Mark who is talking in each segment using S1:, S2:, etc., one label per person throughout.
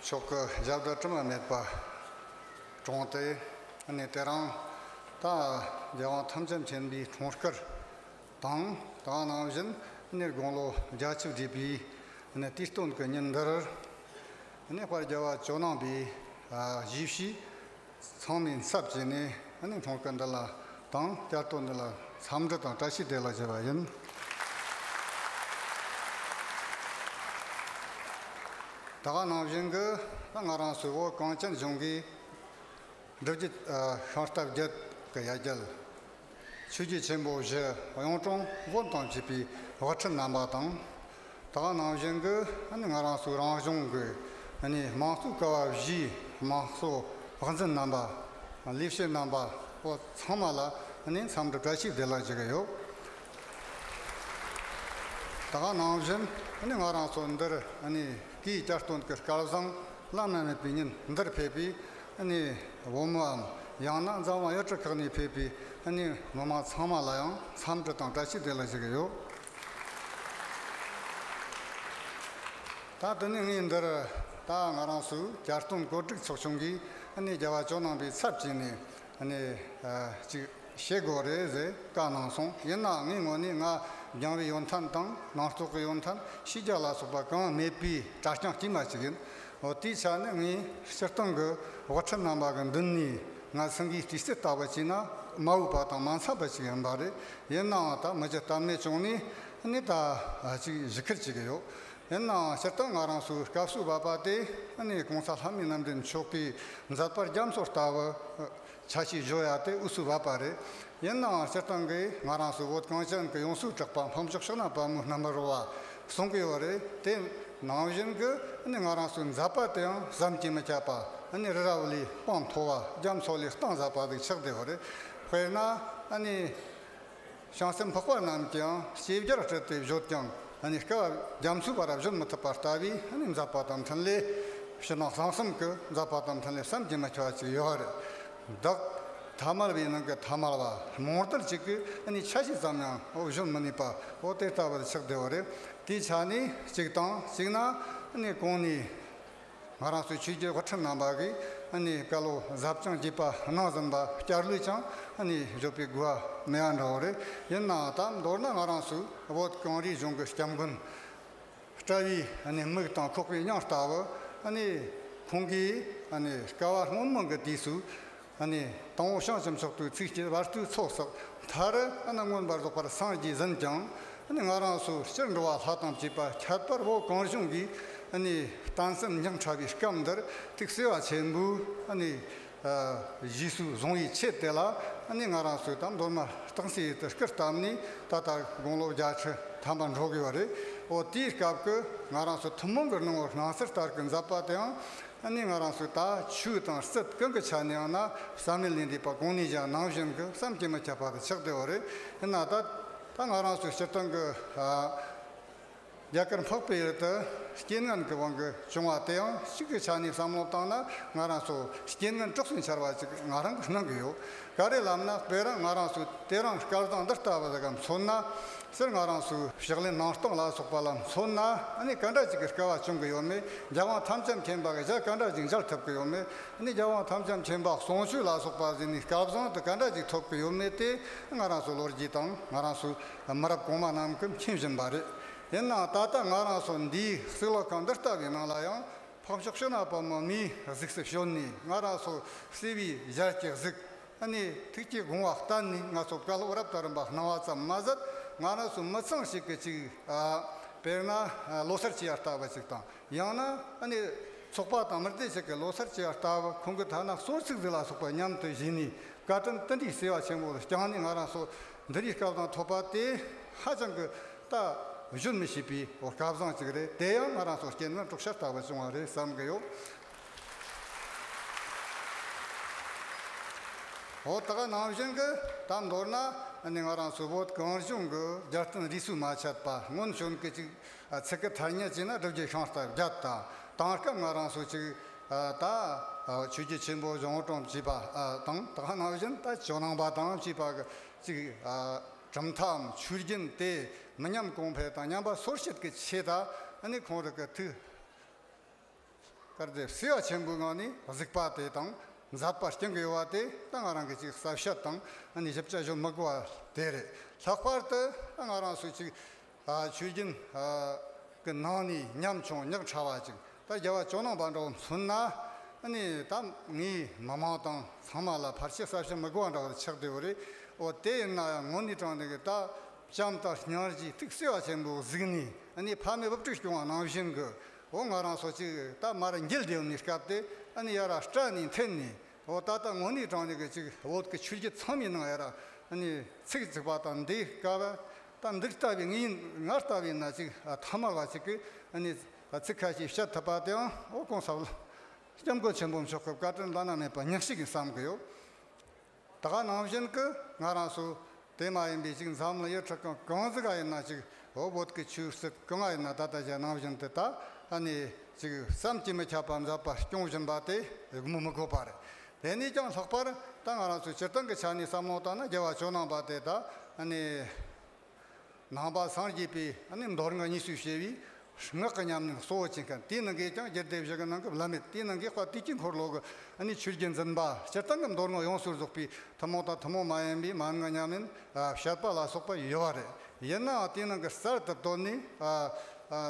S1: མཆོག་གི་ཞབས་ཀྱི་དྲི་མ་མེད་པར་དྲོངས་ཏེ། ནི་དེ་རང་ད་རྒྱལ་དབང་ཐམས་ཅད་མཁྱེན་པའི་འཁྲུངས་སྐར་དང་དང་ནང་བཞིན་ནི་དགུང་ལོ་བརྒྱ་བཅུ་བརྒྱད་པའི་ནི་དུས་སྟོན་གྱི་ཉིན་འདིར། ནི་བར་རྒྱལ་བ་ཇོ་ནང་པའི་གཞིས་བཞུགས། ཚང་མས་འཚབ་བྱས་ནས་ཨ་ནི་མོག་ཏ་འདི་ལ་དང་བསྐྱར་དོ་འདི་ལ་འཚམས་འདྲི་དང་བཀྲ་ཤིས་བདེ་ལགས་བྱས་པ་ཡིན། ད་ག་ནང་བཞིན་གྱི་ང་རང་སུད་བོ་གངས་ཅན་གཞུང་གིས་སྒྲུབ་བརྒྱུད་ཤོང་སྟབས་བརྒྱུད་ཀྱི་ཡ་རྒྱལ་ཆོས་རྒྱལ་ཆེན་པོ་བཞི་གཡུང་དྲུང་དགོན་དང་བཅས་པའི་བག་ཁྲི་བསྣམས་པ་དང། དག་སྣང་བཞི་འདི་ང་རང་སུ་རང་གཞུང་གི་ནས་མང་གཙོའི་ཀ་བ་བཞིའི་དམངས་གཙོ་དབང་འཛིན་རྣམ་པ། ལས་བྱེད་རྣམ་པ་པོ་ཚང་མ་ལ་ནས་འཚམས་འདྲི་བཀྲ་ཤིས་བདེ་ལེགས་བྱེད་ཀྱི་ཡོད། དག་སྣང་བཞི་ནི་ང་རང་ཚོ་འདིར་ནས་སྐས་བསྐྱར་སྟོན་གྱི་སྐལ་བཟང་བླ་ན་མེད་པའི་ཉིན་འདིར་ཕེབས་པའི་ནས་བུ་མོའམ་ཡང་ན་མཛའ་མ་གཡོ་ཁྲི་ཁག་ནས་ཕེབས་པའི་གནས་མི་མང་ཚང་མ་ལ་ཡང་འཚམས་འདྲི་དང་བཀྲ་ཤིས་བདེ་ལེགས་ཞུ་གི་ཡོད། ད་དུ་ནས་ངས་འདིར་ད་ང་རང་སུ་བསྐྱར་སྟོན་གོ་སྒྲིག་ཚོགས་ཆུང་གིས་ནས་རྒྱལ་བ་ཇོ་ནང་པའི་ཚབ་བྱས་ནས་ནས་ཅིག་བྱེད་དགོས་རེད་ཟེར་བཀའ་གནང་སོང་ཡིན་ནའང་ངའི་ངོ་ནས་ང་རྒྱང་བའི་ཡོན་ཐན་དང་ནང་རྟོག་གི་ཡོན་ཐན་ཕྱི་རྒྱལ་ལ་སོགས་པ་གང་མེད་པའི་གྲྭ་རྐྱང་དཀྱུས་མ་ཅིག་ཡིན་འོ་དེའི་ཆ་ནས་ངས་སྤྱིར་བཏང་གི་དབུ་ཁྲིད་རྣམ་པ་གི་མདུན་ནས་ང་སེང་གེའི་སྤྲི་ཟེར་ལྟ་བུ་ཅིག་ན་མ་འོས་པ་དང་མ་འཚམས་པ་ཅིག་ཡིན་པ་རེད་ཡིན་ནའང་ད་མི་རྒྱ་སྟབས་ནས་བྱུང་ནས་ནས་ད་ཅིག་བཞི་ཁུར་བྱེད་ཀྱི་ཡོད་ཡིན་ནའང་སྤྱིར་བཏང་ང་རང་སུའི་སྐབས་སུ་བབས་པ་དེ་ནས་གོང་ས་ལྷ་མོའི་རྣམ་འདྲེན་མཆོག་གིས་མཛད་པར་རྒྱ་མཚོ་ལྟ་བུ་ཆ་ཤས་བཞོ་ཡག་དེ་དབུས་སུ་བབས་པ་རེད། ཡིན་ནའང་སྤྱིར་བཏང་གིས་ང་རང་ཚོའི་བོད་གངས་ཅན་གྱི་ཡོངས་སུ་གྲགས་པ་འཕགས་མཆོག་ཕྱག་ན་པད་མོའི་རྣམ་པར་བ་གསུང་གི་ཡོད་རེད་དེ། ནང་བཞིན་གྱི་ནི་ང་རང་ཚོའི་མཛད་པ་དེ་ཡང་བསམ་གྱིས་མི་ཁྱབ་པ་ནི་རི་རབ་ལས་སྤང་མཐོ་བ་རྒྱ་མཚོ་ལས་སྟངས་ཟབ་པ་ཞིག་ཆགས་བསྡད་ཡོད་རེད། དཔེར་ན། བྱང་སེམས་འཕགས་པ་རྣམས་ཀྱང་ཤེས་བྱར་སྤྲུལ་ཏེ་བཞུགས་ཀྱང་སྐལ་བ་རྒྱ་མཚོའི་བར་བཞུགས་མི་ཐུབ་པ་ལྟ་བུའི་འཛག་པ་དང་འཕྲིན་ལས་ཕྱི་ནང་གསང་གསུམ་གྱི་འཛག་པ་དང་འཕྲིན་ལས་བསམ་གྱིས་མི་ཁྱབ་པ་ཅིག་ཡོད་བདག། ཐ་མལ་བའི་ནང་གི་ཐ་མལ་བ་མོར་དར་གཅིག་གིས་ཆ་ཤས་ཙམ་ཡང་བཞུགས་མི་ནུས་པའོ་དེ་ལྟ་བུར་ཆགས་བདེ་བ་རེད་དེའི་ཆ་ནས་གཅིག་དང་གཅིག་ན་གང་ནས། ང་རང་ཚོའི་ཆོས་རྒྱལ་བ་ཁྲི་རྣམ་པ་གིས་བཀའ་སློབ་གཟབ་རྒྱང་བསྐྱེད་པ་གནང་ཟིན་པ་བསྐྱར་ལུས་ཀྱང་བརྗོད་པའི་དགོས་པ་མེད་ཡ་འདྲ་བོ་རེད། ཡིན་ནའང་ད་མདོར་ན་ང་རང་ཚོའི་བོད་གངས་རིའི་གཞུང་གི་སྐྱབས་མགོན་བཀྲ་བྷེའི་མིག་དང་ཁོག་པའི་སྙིང་ལྟ་བུ། ཁོང་གིས་ཀ་བ་སྔོན་མོ་གི་དུས་སུ་ནི། དང་བོ་བྱང་སེམས་སོགས་དུས་ཚིགས་ཀྱི་བར་དུས་ཚོགས་སོགས་མཐར། མངོན་པར་རྫོགས་པར་སངས་རྒྱས་ཟིན་ཀྱང། ང་རང་སོ་སྤྱིར་འགྲོ་བ་ལྷ་དང་བཅས་པ་ཁྱད་པར་བོ་གང་བྱུང་གིས། བརྟན་སེམས་སྙིང་ཕྲ་བའི་སྐབས་འདིར་ཐུགས་བརྩེ་བ་ཆེན་པོས། གཞིས་སུ་བཟུང་བའི་ཆེད་དེ་ལ། ང་རང་སོས་དང་མདོར་ན་སྟག་སེའི་ཡུལ་དུ་སྐུ་བལྟམས་ནས་ད་ལྟ་དགུང་ལོ་བརྒྱ་ཁྲི་ཐམ་པ་འགྲོ་དགོས་པ་རེད། འོ་དེའི་སྐབས་ཀྱི་ང་རང་སོ་ཐུན་མོང་གི་སྣང་བར་སྣང་སྲིད་ལྟར་གྱི་མཛད་པ་དེའང། ད་ནི་ང་རང་སུ་དག་ཆུ་དང་སྲིབ་སྐོན་གྱི་ཆ་ནས་ཡང་ན་བསམ་ལེ་ལེན་དུས་པ་གང་ནས་ཀྱང་ནང་བཞིན་གྱི་བསམ་གྱིས་མི་ཁྱབ་པ་གྱི་ཆགས་བྲལ་བ་རེད་ཡིན་ན་ད་ད་ང་རང་སུ་ཕྱིར་བཏང་གི་རྒྱ་གར་འཕགས་པའི་ཡུལ་དུ་རྐྱེན་ངན་གྱི་དབང་གིས་བྱུང་བ་དེ་ཡང་གཅིག་གི་ཆ་ནས་བསམ་བློ་བཏང་ན་ང་རང་སུ་རྐྱེན་ངན་དཀྲོགས་སུ་འཆར་བ་ཅིག་ང་རང་གི་སྣང་གི་ཡོད་ག་རེ་ལབ་ན་དཔེར་རང་ང་རང་སུ་དེ་རང་སྐལ་བཟང་འདི་ལྟ་བུ་ཟེ་གམ་མཚོན་ན། སེར་ལྔ་རང་སུ་ཞག་ལས་ནང་སྟོང་ལ་སོགས་པ་ལ་མཚོན་ན་ནི་སྐར་འདྲ་གཅིག་གི་སྐལ་བ་བྱུང་གི་ཡོད་མོད་རྒྱལ་དབང་དམ་བཅའ་མཁྱེན་པ་གི་ཞག་སྐར་འདྲ་གཅིག་འཇགས་ཐུབ་ཀྱི་ཡོད་མོད་ནི་རྒྱལ་དབང་དམ་བཅའ་མཁྱེན་པ་ཟུང་ཆུ་ལ་སོགས་པ་ཟིན་ནས་སྐལ་བཟང་དུ་སྐར་འདྲ་གཅིག་ཐོབ་ཀྱི་ཡོད་མོད་དེ་སྔ་རང་སུ་ལོ་རྒྱུས་དང་སྔ་རང་སུ་མི་རབས་གོང་མ་རྣམས་ཀྱིས་མཁྱེན་བཞིན་པ་རེད། ཡིན་ནའང་ད་ལྟ་སྔ་རང་སུ་འདིའི་གསེར་ལོ་ཁང་འདི་ལྟ་བུའི་ནང་ལ་ཡང་ཕག་མཆོག་ཤོ་ནག་པ་མོ་མིའི་གཟུགས་སུ་ཞོན་ནས་སྔ་རང་སུ་གསེར་བུའི་ཞལ་གྱི་གཟུགས་ཨ་ནེ། ཐུགས་ཀྱི་དགོངས་བ་ལྟར་ནི་ང་ཚོ་བཀའ་སློབ་རབ་དང་རིམ་པ་གནང་བ་ཙམ་མ་ཟད་ང་རང་ཚོ་མི་ཚང་ཞིག་གི་ཅིག། དཔེར་ན། ལོ་སར་བྱེད་ཡ་ལྟ་བུ་ཅིག་དང་ཡང་ན། ཨ་ནེ། ཚོགས་པ་དང་མི་སྡེ་ཞིག་གི་ལོ་སར་བྱེད་ཡ་ལྟ་བུ་ཁོང་གི་ཐ་ན་གསོལ་ཚིགས་རིགས་ལ་སོགས་པ་མཉམ་དུ་བཞེས་ནས་བཀའ་དྲིན་བསྟི་འདྲི་ཟེར་བ་ཆེན་པོ་བསྐྱངས་ནས་ང་རང་ཚོ་འདི་རིགས་སྐབས་དང་ཐོག་པ་དེ་ཧ་ཅང་གི་ལྟ་བཞོན་མི་ཤེས་པའི་སྐལ་བཟང་ཅིག་རེད་དེ་ཡང་ང་རང་ཚོ་སྐྱེ་ནི་འབྲོག་ཤར་ལྟ་བུ་བྱུང་བ་རེད་བསམ་གི་ཡོད། འོ་ད་ག་ནང་བཞིན་གྱི་ད་མདོར་ན་ནི་ང་རང་ཚོའི་བོད་གངས་ལྗོངས་ཀྱི་རྒྱལ་བསྟན་རིས་སུ་མ་ཆད་པ་སྔོན་བྱོན་གྱི་ཅིག་ཚིག་གི་ཐ་སྙད་ཅིག་ན་སྒྲུབ་རྒྱུ་ཤིང་རྟ་བརྒྱད་དང་དེང་སྐབས་ང་རང་ཚོས་ཅིག་ད་ཆོས་རྒྱུད་ཆེན་པོ་གཞུང་དྲུང་ཅེས་པ་དང་ད་ག་ནང་བཞིན་ད་ཇོ་ནང་པ་དང་ཅེས་པ་གི་ཅིག་གྲུབ་མཐའམ་ཆོས་རྒྱུན་དེ་མི་ཉམས་གོང་འཕེལ་དང་ཉམས་པ་སོར་བཤིག་གི་ཆེད་དང་ནི་གོང་རིག་གི་ཐུགས། དཀར་དེབ་བསིལ་བ་ཆེན་པོའི་ངང་ནས་གཟིགས་པ་དེ་དང་མཛའ་བར་སྐྱང་གི་བ་དེ་ད་ང་རང་གི་ཅིག་གསབ་ཞབས་དང་ནི་ཞབས་བཅའ་ཞོ་དམག་བ་དེ་རེད་ལྷག་པར་དུ་ད་ང་རང་སུ་ཅིག་ཆོས་རྒྱུན་གི་ནང་ནས་ཉམ་ཆུང་ཉག་ཕྲ་བ་ཅིག་ད་རྒྱ་བ་ཅོ་ནང་པ་འདྲ་བོ་མཚོན་ན་ནི་ད་ངའི་མི་མང་དང་ཚང་མ་ལ་བར་ཆད་གསབ་ཞབས་དམག་བ་འདྲ་བོ་ཆགས་བསྡད་བོ་རེད་འོ་དེ་ཡིན་ན་ཡང་ངོ་ནི་དྲང་བདེན་གི་ད་ལྕམ་ལྟར་ཉར་གྱིས་ཐིག་བསིལ་བ་ཆེན་པོ་གཟིགས་ནས་ནི་ཕ་མའི་བབ་ཁྲིད་སྐྱོང་བ་ནང་བཞིན་གི་ཨོ་ང་རང་སོ་ཅིག་རྟ་དམར་འགྱེལ་དེའོ་ནི་སྐབས་དེ་ཨ་ནི་ཡ་ར་སྐྲ་ནི་འཐེན་ནི་ཨོ་ད་ལྟ་དངོས་ནི་དྲང་ནི་གི་ཅིག་ཨོ་གི་ཆུ་ཁྱི་ཚང་མི་ནང་ཡ་ར་ཨ་ནི་ཚིག་ཚིག་པ་དང་འདི་ཀ་བ་ད་འདི་ལྟ་བའི་ངི་ང་ལྟ་བའི་ན་ཅིག་ཨ་ཐ་མ་བ་ཅིག་གི་ཨ་ནི་ཚིག་ཁ་ཤས་བཤད་ཐུབ་པ་དེ་ཨང་ཨོ་གོང་ས་ལ་སྐྱབས་མགོན་ཆེན་པོ་མཆོག་གི་བཀའ་དྲིན་བླ་ན་མེད་པ་ཉག་ཞིག་ཡིན་བསམ་གི་ཡོད། ད་ག་ནང་བཞིན་གི་ང་རང་སུ་དེ་མ་ཡིན་པའི་ཅིག་མཚམས་ལ་ཡོད་ཁྲི་ཀང་གང་ཟི་ག་ཡིན་ན་ཅིག་ཧོ་བོད་ཀི་ཆུ་བསིབ་གང་ང་ཡིན་ན་ད་ལྟ་གཞན་ནང་བཞིན་དེ་ད་ནས་ཅིག་བསམ་གྱིས་མི་ཁྱབ་པ་མཛད་པ་སྐྱོང་བཞིན་པ་དེ་གི་མི་མི་དགོས་པ་རེད་དེ་ནས་ཀྱང་ལྷག་པར་ད་ང་རང་སུ་སྤྱིར་བཏང་གི་ཆ་ནས་བསམ་བློ་བཏང་ན་རྒྱལ་བ་ཇོ་ནང་པ་དེ་ད་ནས། ནང་པ་སངས་རྒྱས་པས་ནི་མདོར་ན་གཉིས་སུ་བྱས་པའི་སྔགས་ཀྱི་ཉམས་ནི་གཙོ་བོར་བྱེད་མཁན་དེའི་ནང་གིས་ཀྱང་རྒྱུད་སྡེ་བཞི་གི་ནང་གི་བླ་མེད་དེའི་ནང་གི་དཔལ་དུས་ཀྱི་འཁོར་ལོ་གི་ནི་ཆོས་རྒྱུད་འཛིན་པ་སྤྱིར་བཏང་གི་མདོར་ན་ཡོངས་སུ་རྫོགས་པའི་ཐུན་མོང་དང་ཐུན་མོང་མ་ཡིན་པའི་མ་ནི་མཉམ་མིན་བཤད་པ་ལ་སོགས་པ་ཡོད་པ་རེད། ཡིན་ནའང་དེའི་ནང་གི་གསར་དུ་བཏོན་ནས་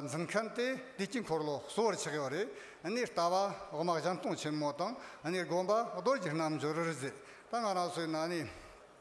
S1: འཛིན་མཁན་དེ་དུས་ཀྱི་འཁོར་ལོ་གཙོ་བོར་ཆགས་ཡོད་རེད། ནི་ལྟ་བ་དབང་བཞམས་སྟོང་ཆེན་མོ་དང་ནི་དགོངས་པ་རྡོ་རྗེ་རྣལ་འབྱོར་རིག་འཛིན་དང་ང་རང་སོའི་ནང་ནས།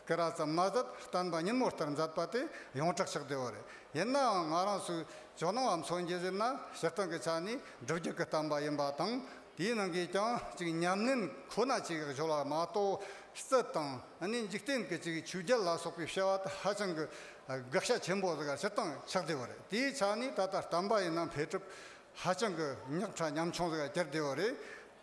S1: སྐེ་རགས་ཙམ་མ་ཟད་སྟོན་པ་ཉིན་མོ་ལྟར་མཛད་པ་དེ་ཡོངས་གྲགས་ཆགས་བསྡད་པ་རེད། ཡིན་ནའང་ང་རང་ཚོས་ཇོ་ནང་བ་མཚོ་འགྱེད་ཟེར་ན་ཕྱིར་བཏང་གི་ཆ་ནས་སྒྲུབ་རྒྱུ་གི་བསྟན་པ་ཡིན་པ་དང་དེའི་ནང་གི་ཀྱང་གཅིག་ཉམས་ལེན་ཁོ་ན་ཅིག་བཞོ་ལ་མ་གཏོགས་རྩིད་དང་ནི་འཇིག་རྟེན་གྱི་ཅིག་ཆོས་རྒྱལ་ལ་སོགས་པའི་བཤད་བ་དེ་ཧ་ཅང་གི་དགག་བྱ་ཆེན་པོ་ཟེར་ག་ཕྱིར་བཏང་ཆགས་བསྡད་པ་རེད་དེའི་ཆ་ནས་ད་ལྟ་བསྟན་པ་ཡིན་ན་འཕེལ་གྲུབ་ཧ་ཅང་གི་རྙོག་ཁྲ་ཉམ་ཆུང་ཟེར་ག་གྱུར་བསྡད་པ་རེད།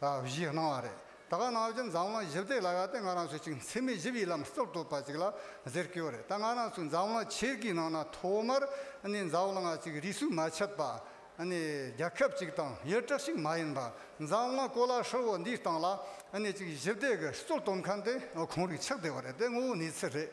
S1: ལ་བཞི་སྣང་བ་རེད། ད་ག་ནང་བཞིན་འཛམ་གླིང་བཞི་བདེ་ལ་ཡག་སྟེ་ང་རང་ཚོའི་ཅིག་མཚན་མེད་བཞི་བའི་ལམ་སྟོར་གཏོད་པ་ཅིག་ལ་ཟེར་སྐྱོ་རེད་ད་ང་རང་ཚོའི་འཛམ་གླིང་ཆེར་གི་ནང་ན་ཐོག་མར་ནས་འཛམ་གླིང་ང་ཅིག་རིས་སུ་མ་ཆད་པ་ནས་རྒྱ་ཁབ་ཅིག་དང་ཡུལ་གྲགས་ཤིག་མ་ཡིན་པ་འཛམ་གླིང་གོ་ལ་ཧྲིལ་བོ་འདིའི་སྟེང་ལ་ནས་ཅིག་བཞི་བདེ་གི་གཙོ་སྟོན་མཁན་དེ་གང་རིགས་ཆགས་བསྡད་པ་རེད་དེ་དངོས་བོ་ནུས་ཚོད་རེད།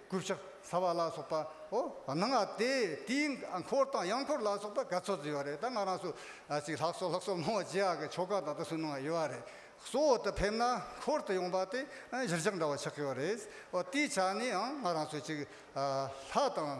S1: སྐུ་ཕྱག་ཟ་བ་ལ་སོགས་པའོ། ནང་ང་སྟེ་དེའི་འཁོར་དང་གཡང་འཁོར་ལ་སོགས་པ་ག་ཚོད་ཅིག་ཡོད་རེད་ད་ང་རང་ཚོ་ཅིག་ལྷག་སོ་ལྷག་སོ་སྣང་བ་བྱེད་ཡག་གི་ཆོ་ག་དང་དུ་སུ་སྣང་བ་ཡོད་རེད། གཙོ་བོ་དེ་ཕེབས་ན་འཁོར་དུ་ཡོང་པ་དེ་གཞིར་བཞག་འདྲ་བ་ཆགས་ཀྱི་ཡོད་རེད། དེའི་ཆ་ནས་ཡང་ང་རང་ཚོ་ཅིག་ལྷག་དང།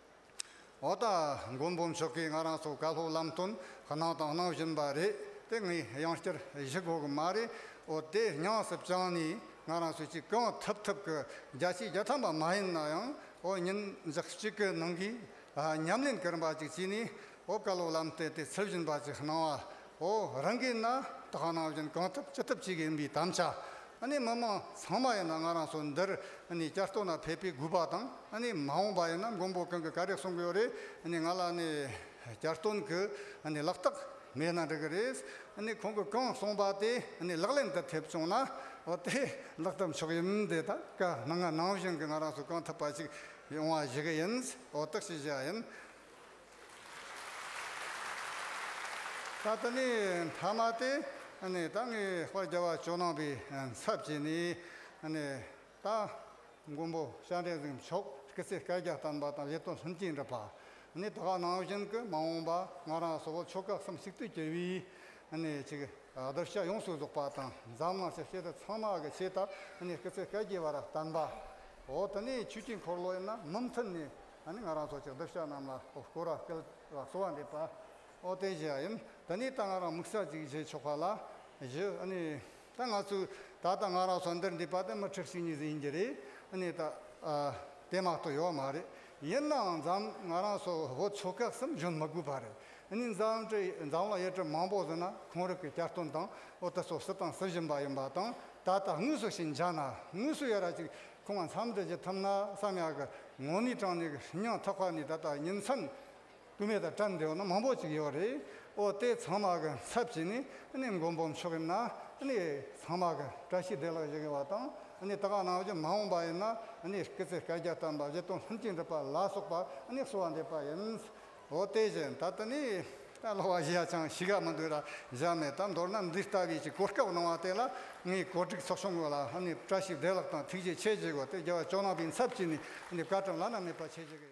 S1: འོ་ད་མགོན་པོ་མཆོག་གིས་ང་རང་སོགས་བཀའ་སློབ་ལམ་སྟོན་གནང་དང་གནང་བཞིན་པ་རེད་དེ་ངས་ཡང་བསྐྱར་གཞི་གོ་གི་མ་རེད་འོ་དེ་ཉང་སྲིབ་བྱང་ནས་ང་རང་སོད་ཅིག་གང་ཐུབ་ཐུབ་གི་བརྒྱ་ཆའི་བརྒྱ་ཐམ་པ་མ་ཡིན་ན་ཡང་འོ་ཉིན་གཅིག་གི་ནང་གི་ཉམས་ལེན་གི་རིམ་པ་ཅིག་བྱས་ནས་ཨོ་བཀའ་སློབ་ལམ་སྟོན་དེ་ཚུལ་བཞིན་པ་ཅིག་གནང་བ་འོ་རང་གིས་ན་དག་སྣང་བཞིན་གང་ཐུབ་ཅི་ཐུབ་བྱེད་གི་ཡིན་པའི་དམ་བཅའ་ནི་མི་མང་ཚང་མ་ཡིན་ན་ང་རང་ཚོ་འདིར་ནི་བསྐྱར་གཏོར་ན་ཕེབས་པའི་དགོས་པ་དང་ནི་མ་འོངས་པ་ཡིན་ན་མགོན་པོ་གང་གི་ག་རེ་གསུང་གི་ཡོད་རེད་ནི་ང་ལ་ནི་བསྐྱར་གཏོར་གི་ནི་ལག་རྟགས་མེད་ན་འགྲིག་གི་རེད་ནི་ཁོང་གི་གང་གསུང་པ་དེ་ནི་ལག་ལེན་དུ་ཐེབས་བྱུང་ན་འོ་དེ་ལག་ཐབས་མཆོག་ཡིན་དེ་ད་ག་སྣང་སྣང་བཞིན་གི་ང་རང་ཚོ་གང་ཐུབ་པ་ཅིག་ཡོང་བ་བྱེད་གི་ཡིན་འོ་དག་བྱེད་བྱ་ཡིན། ད་ལྟ་ནི་ཐ་མ་སྟེ། ད་ངེས་པར་རྒྱལ་བ་ཇོ་ནང་པའི་ཚབ་བྱས་ནས། ད་མགོན་པོ་ཤཱཀ་འགྲེལ་གཟིགས་མཆོག་གི་ཚེ་བསྐལ་བརྒྱ་བསྟན་པ་དང་ཡེ་སྟོང་ལྷུན་གྱིས་འགྲུབ་པ། ནི་ད་ག་ནང་བཞིན་གྱི་མ་འོངས་པ་ང་རང་སོགས་ཆོས་སྐལ་གསུམ་གཅིག་ཏུ་གྱུར་པའི། ཆིག་བསྒྲིལ་ཤ་ཡོངས་སུ་རྫོགས་པ་དང་འཛམ་གླིང་ཆེ་ཤེལ་ཚང་མ་གི་ཆེད་དུ། ནི་སྐུ་ཚེ་བསྐལ་བརྒྱའི་བར་བསྟན་པ། འོ་ད་ནི་ཆོས་ཀྱི་འཁོར་ལོ་ཡིན་ན་མུ་མཐུད་ནས། ད་ནི་ང་རང་ཚོ་ཅག་འདབ་ཆགས་རྣམས་ལ་ཨོ་སྐོ་ར་སྐལ་བ་གསོ་བ་འདེབས་པ། ཨོ་རྟེན་བཞེས་བ་ཡིན། ད་ནི་ད་ང་རང་མིག་ཚགས་ཅིག་བཞེས་ཆོག་པ་ལ། བཞི། ཨ་ནི། ད་ང་ཚོས་ད་ལྟ་ང་རང་ཚོ་འདིར་འདུས་པ་དེ་མི་ཁྲི་བཞི་གཉིས་ཟིན་ཡིན་གྱི་རེད། ཨ་ནི། ད་དེ་མ་གཏོགས་ཡོད་མ་རེད། ཡིན་ནའང་འཛམ་ང་རང་ཚོ་བོད་ཆོལ་ཁ་གསུམ་གཞོན་མི་དགོས་པ་རེད། ཨ་ནི། འཛམ་གྲི་འཛམ་ལ་ཡས་གྲི་མང་པོ་ཟིན་ན་གོང་རིགས་ཀྱི་བསྐྱར་སྟོན་དང་ཨོ་ཏི་སོ་སི་དང་སི་བཞིན་པ་ཡིན་པ་དང། ད་ལྟ་དངོས་སུ་ཞིག་འཇགས་ན་དངོས་སུ་ཡོད་ར་ཅིག་ཁོང་མཚམས་འདྲི་བྱེད་ཐུབ་ན་བསམ་ཡག་གི། ངོ་ནི་ཀྲང་ནི་ཧྲིན་ཉང་ཐག་ཁ་ནི་ད་ལྟ་ཉིན་མཚན། སྐུད་མེད་དང་ཀྲང་འབྲེལ་བ་ན་མང་པོ་ཅིག་ཡོད་རེད། ཨོ་ལྟའི་ཚང་མ་གི་ཚབ་བྱས་ནས་ནི་མགོ་འབོམ་ཆོག་གི་ན་ནི། ཚང་མ་གི་བཀྲ་ཤིས་བདེ་ལགས་བྱེད་གི་བ་དང་ནི་ད་ག་ནང་བཞིན་མ་འོངས་པ་ཡིན་ན་ནི་སྐེ་ཚེ་བཀའ་རྒྱ་བཏང་པ་བཞི་སྟོང་ལྷན་སྐྱེས་འགྲུབ་པ་ལ་སོགས་པ་ནི་གསོལ་བ་འདེབས་པ་ཡིན། འོ་དེ་བཞིན་ད་ལྟ་ནི་ད་ལོ་བ་བཞི་ཡ་ཆང་བྱི་ག་མི་འདུག་ལ་བཞག་མེད་ད་མདོར་ན་འདི་ལྟ་བུའི་ཅིག་གོ་སྐབས་གནང་བ་དེ་ལ་ངས་གོ་སྒྲིག་ཚོགས་ཆུང་གི་ལ་ནི་བཀྲ་ཤིས་བདེ་ལགས་དང་ཐུགས་རྗེ་ཆེ་བྱེད་དགོས་ཏེ་རྒྱལ་བ་ལྕོག་ནང་པའི་འཚབ་ཀྱིས་ནི་འདི་བཀའ་དྲིན་བླ་ན་མེད་པ་ཆེ་བྱེད་ཀྱི་ཡོད།